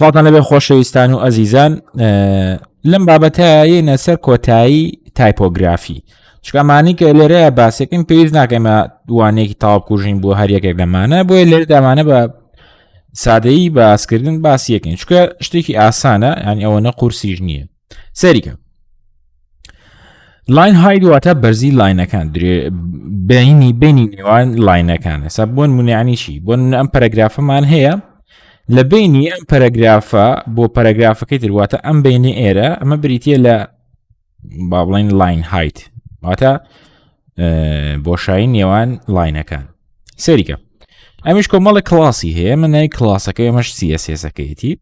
سڵاتان لەبێ خۆشەویستان و ئەزیزان لەم بابەتەیەنە سەر کۆتایی تایپۆگرافی چکامانی کە لێرەیە باسێکم پێویست ناکەمە دوانێکی تاوکوژین بۆ هەر یەکێک لەمانە بۆیە لێر دامانە بە سادەیی باسکردن باسیەکەین چکە شتێکی ئاسانە یان ئەوە نە قورسیش نییە سەریکە لاین هاید واتە بەرزی لاینەکان درێ بینی بینی نێوان لاینەکان ئەسا بۆن منیانیشی بۆن ئەم پەرەگرافەمان هەیە لە بینی ئەم پەرەگرافە بۆ پەرەگرافەکەی درواتە ئەم بینی ئێرە ئەمە بریتە لە با بڵین لاین هایت واتە بۆشایی نێوان لاینەکان سەریکە ئەمیش کۆمەڵە کلاسی هەیە من نای کلاسەکەی ئەمەش سیەسەکەیەتی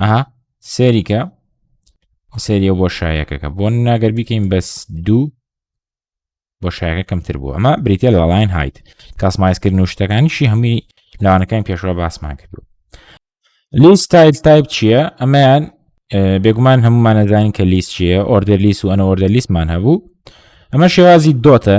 ئەها سێریکە سێریە بۆ شایەکەکە بۆ ناگەر بیکەین بەس دوو بۆ شایەکە کەمتر بوو ئەمە بریتە لە لاین هایت کاسمایزکردن و شتەکانیشی هەمووی لاوانەکان پێشوە باسمان کردو لیست تایل تایپ چییە ئەمەیان بێگومان هەمومانەزانین کە لیست چیە ئۆردەر لیست و ئەنە ئۆردە لیستمان هەبوو ئەمە شێوازی دۆتە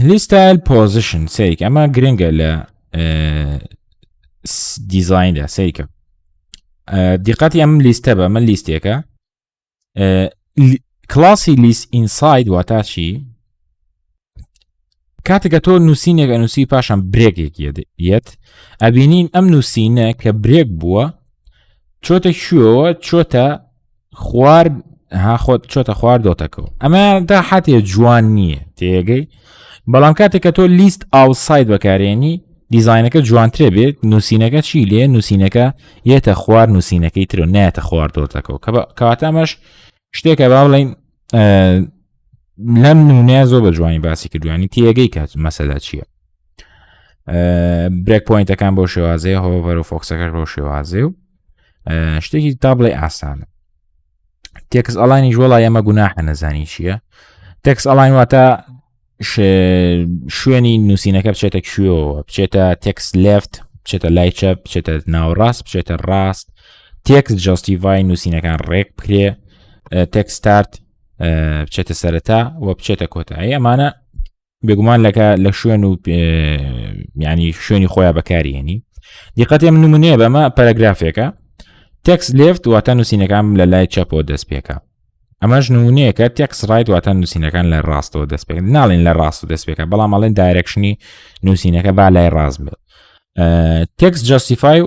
لیستایل پۆزیشن سیک ئەمە گرنگە لە دیزایندا سیکە دیقەتی ئەم لیستە بە من لیستێکە کلاسی لیست ئینساید واتاچی کاتێکە تۆ نووسینێک ئەنووسی پاشان برێکێک یەت ئەبینین ئەم نووسینە کە برێک بووە چۆتە شوەوە چۆتە خوار ها خۆت چۆتە خوار دۆتەکەەوە ئەمە دا حاتێ جوان نییە تێگەی بەڵام کاتێک کە تۆ لیست ئاوساید بەکارێنی دیزینەکە جوانترێ بێت نووسینەکە چی لێ نووسینەکە یەتە خوار نووسینەکەی تر و ناتە خوار دۆتەکەەوە کە کەواتە ئەمەش شتێکە با بڵین لەم نمونەیە زۆر بە جوانی باسی کردوانی تێگەی کات مەسەدا چییە برێک پوینتەکان بۆ شێوازەیە هۆبەر و فۆکسەکەش بۆ شێوازێ و شتێکی تا بڵێ ئاسانە تێکس ئەلانی ژۆڵا ئەمە گوناحە نەزانی چییە تێکس ئەلاین واتە شوێنی نووسینەکە بچێتە کوێەوە بچێتە تێکس لفت بچێتە لای چە بچێتە ناوڕاست بچێتە ڕاست تێکس جستیڤای نووسینەکان ڕێک بکرێ تێکستارت بچێتە سەرەتا و بچێتە کۆتایی ئەمانە بێگومان لەکە لە شوێن و ینی شوێنی خۆیان بەکارێنی دیقەتێ من نمونەیە بەمە پەرەگرافێکە تەکس لێفت واتە نووسینەکان لە لای چەپۆ دەست پێکە ئەمەش نمونەیەکە تەکس ڕایت واتە نووسینەکان لە ڕاستەوە دەست پێ ناڵێن لە ڕاست و دەست پێکە بەڵام ئەڵێن دایرەکشنی نووسینەکە با لای ڕاست بێت تەکس جاستیفای و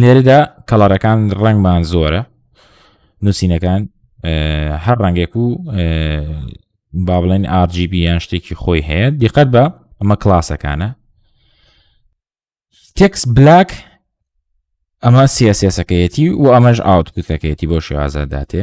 لێرەدا کەڵەرەکان ڕەنگمان زۆرە نووسینەکان هەر ڕەنگێک و با بڵێن RGB یان شتێکی خۆی هەیە دیقەت بە ئەمە کلاسەکانە تێکس بلاک ئەمە سیاسەکەیەتی و ئەمەش ئاوتکوتەکەیەتی بۆ شێوازە داتێ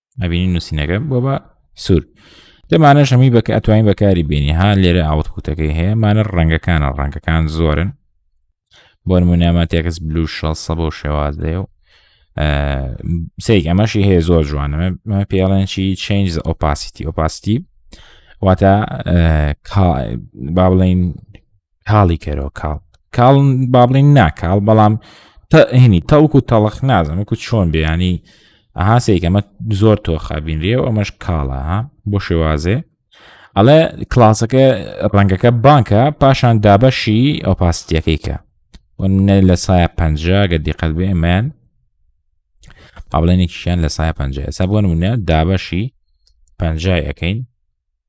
ئەبینی نووسینەکە بۆ بە سوور دەمانە شەمی بەکە ئەتوانین بەکاری بینی ها لێرە ئاوت کوتەکەی هەیە مانە ڕەنگەکانە ڕەنگەکان زۆرن بۆ نمونامە تێکس بلو شە سە بۆ شێوازدەیە و سێک ئەمەشی هەیە زۆر جوانەمە پێڵێنشی چنج ئۆپاسیتی ئۆپاستی واتە با بڵین کاڵی کەرەوە کاڵ کاڵ بابلین ناکاڵ بەڵام هینی تەوک و تەڵخ نازم وکو چۆن بیانی ئەها سێکەمە زۆر تۆخە بینرێ و ئەمەش کاڵە بۆ شێوازێ ئەڵێ کلاسەکە ڕەنگەکە بانکە پاشان دابەشی ئەو پاستیەکەی کە نە لە سایە پ گە دیقەت بێ ئەمەیان ئابلێنێکیشیان لە سایە پ ئێستا بۆ نمونە دابەشی پنجای ئەەکەین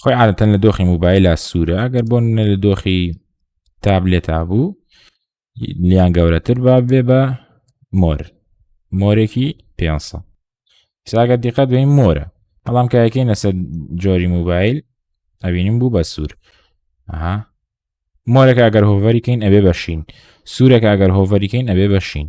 خۆی عادەتەن لە دۆخی موبایلە سوورە ئەگەر بۆن لە دۆخی تابلێتا بوو لیان گەورەتر با بێ بە مۆر مۆرێکی پێ ساگە دیقەت بین مۆرە بەڵام کایەکەی نەسە جۆری موبایل ئەبینیم بوو بە سوور ئەها مۆرەکە ئەگەر هۆڤەریکەین ئەبێ بەشین سوورەکە ئەگەر هۆڤەریکەین ئەبێ بەشین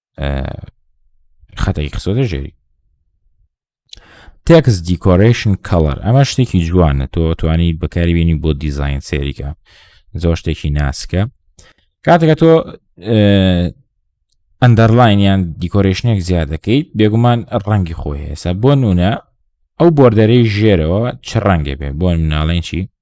خەتەی قسۆدە ژێری تێکس دیکۆرشن کەڵەر ئەمە شتێکی جوانە تۆ توانی بەکاری بینی بۆ دیزین سێریکە زۆر شتێکی ناسکە کاتەکە تۆ ئەندەرلاین یان دیکۆرشنێک زیاد دەکەیت بێگومان ڕەنگی خۆی هێسا بۆ نونە ئەو بۆردەرەی ژێرەوە چ ڕەنگێ بێ بۆ مناڵێن چی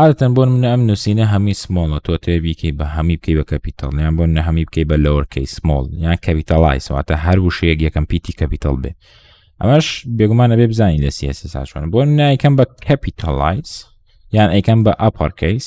عادەتەن بۆن منە ئەم نووسینە هەمی سمۆڵە تۆ توێ بیکەی بە هەمی بکەی بە کەپیتال یان بۆن نە هەمی بکەی بە لەوەرکەی سمۆڵ یان کەپیتالای سواتە هەر وشەیەک یەکەم پیتی کەپیتال بێ ئەمەش بێگومانە بێ بزانین لە سیاسە ساچوان بۆن نایکەم بە کەپیتالایز یان ئەیکەم بە ئاپارکەیس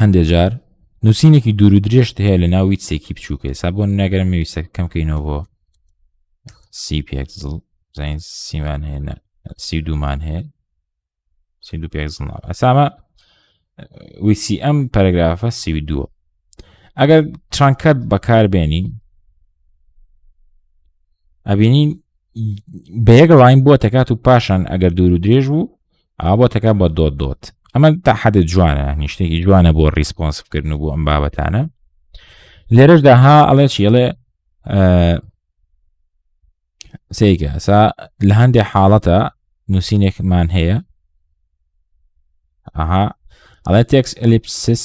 هەندێ جار نووسینێکی دوور و درێژت هەیە لە ناوی سێکی بچووکە سا بۆ ناگەرم مەویستە کەم کەینەوە بۆ سی پێکزڵ زین سیمان هەیە سی دوومان هەیە سی دوو پێکزڵ ناو ئەسامە ویسی ئەم پەرگرافە سی دووە ئەگەر ترانکەت بەکاربێنی ئەبینین بە یەک ڕاین بووە تەکات و پاشان ئەگەر دوور و درێژ بوو ئا بۆتەکە بە دۆت دۆت ئەمە تا حەدە جوانە نیشتێکی جوانە بۆ ریسپۆنسکردن و بۆ ئەم بابەتانە لێرەشدا ها ئەڵێ چیڵێ سیکە ئەسا لە هەندێک حاڵەتە نووسینێکمان هەیە ئەها ئەڵێ تێکس ئەلیپسس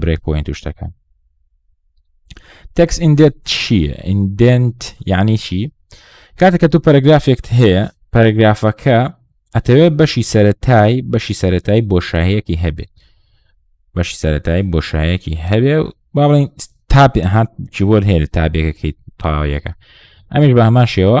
برێک پوینت و شتەکان تەکس ئیندێت چییە ئیندنت یعنی چی کاتێککە تو پەرگرافێکت هەیە پەرگرافەکە ئەتەوێت بەشی سەتای بەشی سەتای بۆ شاهەیەکی هەبێت بەشی سەتای بۆ شایەکی هەبێ و با بڵین تاپێ هات کیبۆرد هەیە لە تابێکەکەی تاویەکە ئەمیش بە هەمان شێوە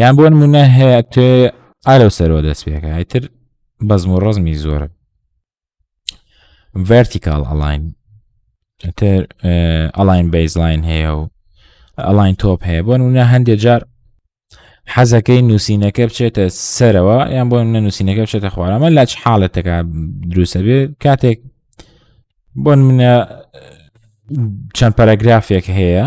یان بۆ نمونە هەیە تێ ئالەو سەرەوە دەست پێەکە ئەتر بەزم و ڕزمی زۆرە ڤەرتیکال ئەلاین تر ئەلاین بەیزلاین هەیە و ئەلاین تۆپ هەیە بۆ نمونە هەندێک جار حەزەکەی نووسینەکە بچێتە سەرەوە یان بۆ منە نووسینەکە بچێتە خوارەمە لاچ حاڵەتەکە دروستە بێ کاتێک بۆن منە چەند پەرەگرافێک هەیە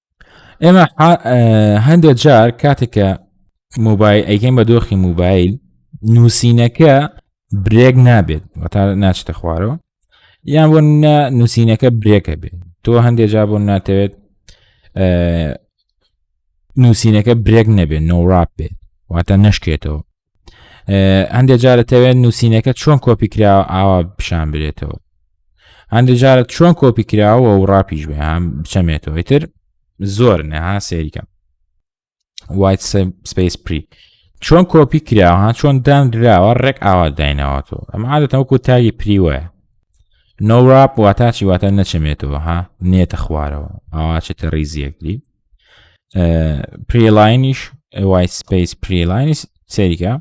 ئێمە هەندێک جار کاتێکە موبایل ئەیکەین بە دۆخی موبایل نووسینەکە برێک نابێت تا ناچتە خوارەوە یان بۆ نووسینەکە برێکە بێت تۆ هەندێک جا بۆ ناتەوێت نووسینەکە برێک نەبێت نۆڕاپ بێت واتە نشکێتەوە هەندێک جارە تەوێت نووسینەکە چۆن کۆپی کراوە ئاوا پیشان برێتەوە هەندێک جارە چۆن کۆپی کراوە و ڕاپیش بێ هەم بچەمێتەوەی تر زۆر نەها سێریکەم وایت سپیس پری چۆن کۆپی کراوە ها چۆن دان دراوە ڕێک ئاوا دایناوەەوە ئەم عادەتەوەکو تاگی پری وایە نۆڕاپ واتاچی واتە نەچەمێتەوە ها نێتە خوارەوە ئاواچێتە ریزیەکلی پریلاینیش وای سپیس پریلاینی سەریکە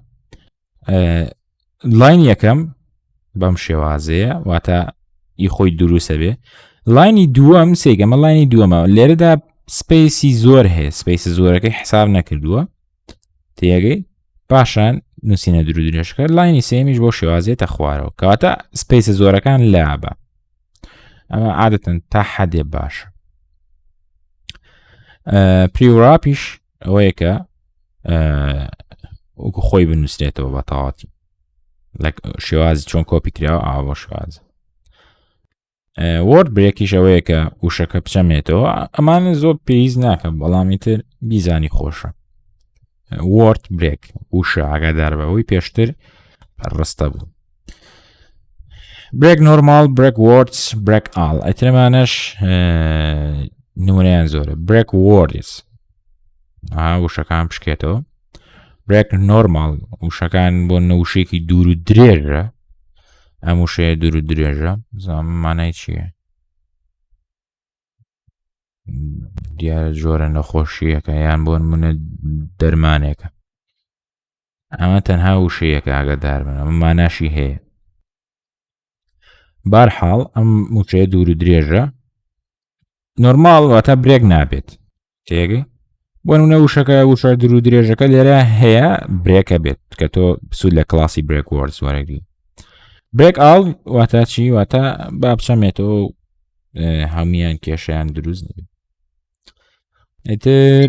لاین یەکەم بەم شێوازەیە واتە ئی خۆی دروستە بێ لاینی دووەم سێگەمە لاینی دووەمە لێرەدا سپیسی زۆر هەیە سپیسی زۆرەکەی حساب نەکردووە تێگەی پاشان نووسینە درو درێژەکە لاینی سێمیش بۆ شێوازێتە خوارەوە کەواتە سپیسە زۆرەکان لابە ئەمە عادەتەن تا حەدێ باش پریوراپیش ئەوەیە کە وەکو خۆی بنووسێتەوە بە تەواتی لە شێوازی چۆن کۆپی کراوە ئاوە شوازە وەرد برێکیش ئەوەیە کە وشەکە بچەمێتەوە ئەمانە زۆر پێویز ناکەم بەڵامی تر بیزانی خۆشە وەرد برێک وشە ئاگادار بەوەی پێشتر ڕستە بوو برێک نۆرمال برێک وەرس برێک ئاڵ ئەترمانەش نمونیان زۆرە برێک وەرس وشەکان بشکێتەوە برێک نۆرمال وشەکان بۆ نەوشێکی دوور و درێژە ئەم وشەیە دوور و درێژە زانم مانای چییە دیارە جۆرە نەخۆشیەکە یان بۆن منە دەرمانێکە ئەمە تەنها وشەیەکە ئاگادار بن ئەمە ماناشی هەیە بارحاڵ ئەم موچەیە دوور و درێژە نۆرماڵ واتە برێک نابێت تێگەی بۆ نمونە وشەکە وشە درو درێژەکە لێرە هەیە برێکە بێت کە تۆ سوود لە کلاسی برێک وەرز وەرەگری برێک ئاڵ واتە چی واتە با بچەمێتەوە هەمویان کێشیان دروست نبێت ئیتر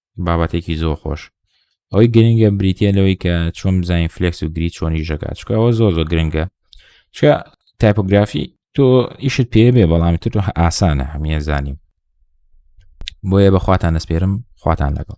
بابەتێکی زۆر خۆش ئەوەی گرنگە بریتە لەوەی کە چۆن بزانین فلکس و گری چۆنی ژەکات چکە ئەوە زۆر زۆر گرنگە چ تایپۆگرافی تۆ ئیشت پێ بێ بەڵام تر ئاسانە هەمیە زانیم بۆیە بەخواتان دەسپێرم خواتان لەگەڵ